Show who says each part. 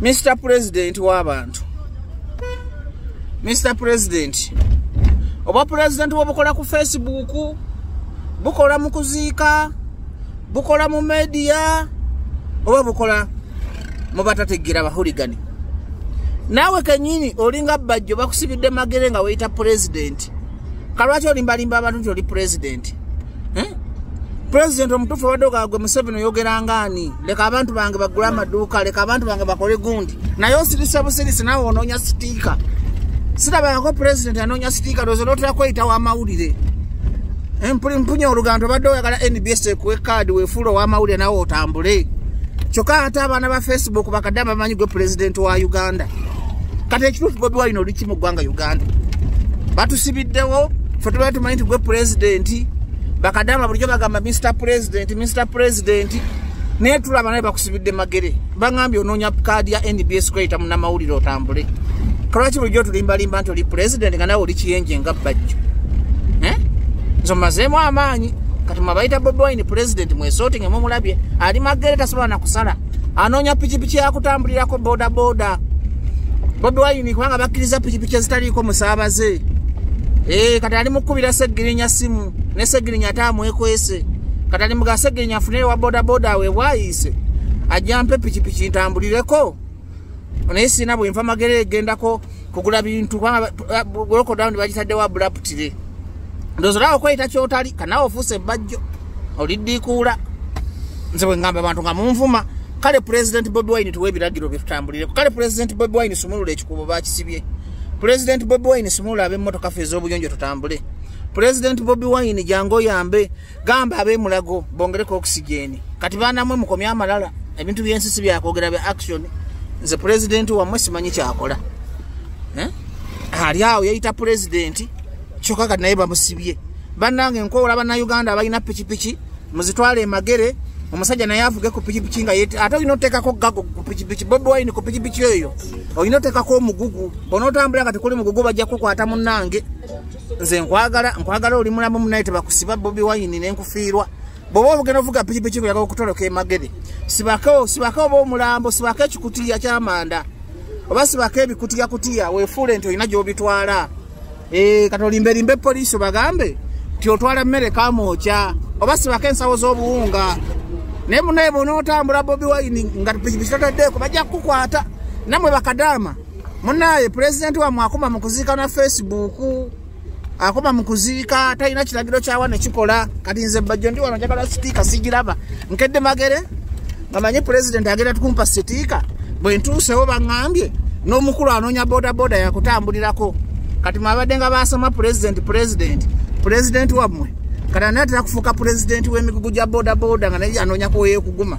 Speaker 1: Mr President w'abantu Mr President oba president wobukola ku Facebook bukola mu kuziika bukola mu media oba bukola mu batategeera bahuligani naawe kenyini olinga bajjo bakusibidde magere nga weyita president kalwaki olimbalimba abantu nti oli pulezidenti eh? pulezidenti omutuufu obadde ogagwe museveni oyogera ngaani leka abantu bange bagule amaduuka leka abantu bange bakole gundi naye osirisa busirisi nawe onoonya sitiika sirabangako pulezidenti anoonya sitiika lwozo lwotera kweyita w'amawulire eh, mpunya oluganto obadde oyagala nbs ekuwe kaadi wefuula ow'amawulire nawe otambule kyokka ate abaana ba facebook bakadde abamanyi gwe pulezidenti wa uganda kati ekituufu bobi wine oli kimu ggwanga uganda batusibiddewo fe tubaa tumanyi nti gwe pulezidenti bakadama bulijjo bagamba mr pulezidenti mr pulezidenti naye tulaba naye bakusibidde magere bagambye onoonya kaadi ya nbs kweyita munamawulire otambule kalwaki bulijjo otulimbalimba nti oli pulezidenti nga nawe oli kiyenje nga bajjo eh? nze omazeemu amaanyi kati mwabayita bobi wine pulezidenti mwesooti ngemumulabye ali magere tasobola nakusala anoonya pikipiki yakutambulirako bodaboda bobi wayini kubanga bakkiriza pikipiki ezitaliiko musaabaze eh, kati ali mukukubira segirinya simu ne segirinya ate amwekwese kati ali muga segirinya afuneyo wa bodaboda we bwayise ajjampe pikipiki ntambulireko naye sirina bwenfa magere egendako kugula bintu lokodawuni bagitaddewo abulaputire ndoozi olaba okweyita kyotali kanawe ofuuse ebbajjo oliddiikuula nze bwe ngamba abantu nga munvuma kale pulezidenti bobi wine tuwa ebiragiro bye tutambulireko kale pulezidenti bobi wine sumulula ekikubo bakisibye pulezidenti bobi wine sumulula ab'emmotoka fe ez'obuyonjo tutambule pulezidenti bobi wine jangu oyambe gamba abemulago bongereko oxygen kati banamwe mukomye amalala ebintu byensi si byakwogera bya action nze pulezidenti wamwe simanyi kyakola eh? ali awo yeyita pulezidenti kyoka kati naye bamusibye bannange nkowola bannauganda abalina pikipiki muzitwale emagere omusajja naye avuge ku pikipiki nga yet ate olina oteekako gago ku pikipiki bobi wine ku pikipiki eyo olina oteekako omugugu onootambula nga tekuli mugugu bajja kukwata munnange nze nkwagala nkwagala oli mulamu munaye tebakusiba bobi wayini nenkufiirwa bwoba obugenda ovuga pikipiki ngulaga okutoloka emagere sibako sibako oba omulambo sibako ekikutiya kyamanda oba sibako ebikutiya kutiya wefuule nti olina gyobitwala eh, kati olimberimbe polisi obagambe nti otwala mmere kamwokya oba sibako ensawo z'obuwunga naye munaye bonaotambula bobi wayini nga pikipiki totaddeeko bajja kukukwata namwe bakadaama munaye pulezidenti wamwe akoma mu kuziika na facebook akoma mu kuziika talina kiragiro kyawa nekikola kati nze bajjo ndi wano njagala sitiika sigiraba nkedde magere nga manyi pulezidenti agenda tukumpa sitiika bwe ntuusewo baŋambye n'omukulu anoonya bodaboda yakutambulirako kati mwabadde nga basoma pulezidenti pulezidenti pulezidenti wamwe kati anatera kufuuka pulezidenti w'emigugu gya bodaboda nga naye anoonya kuweyekuguma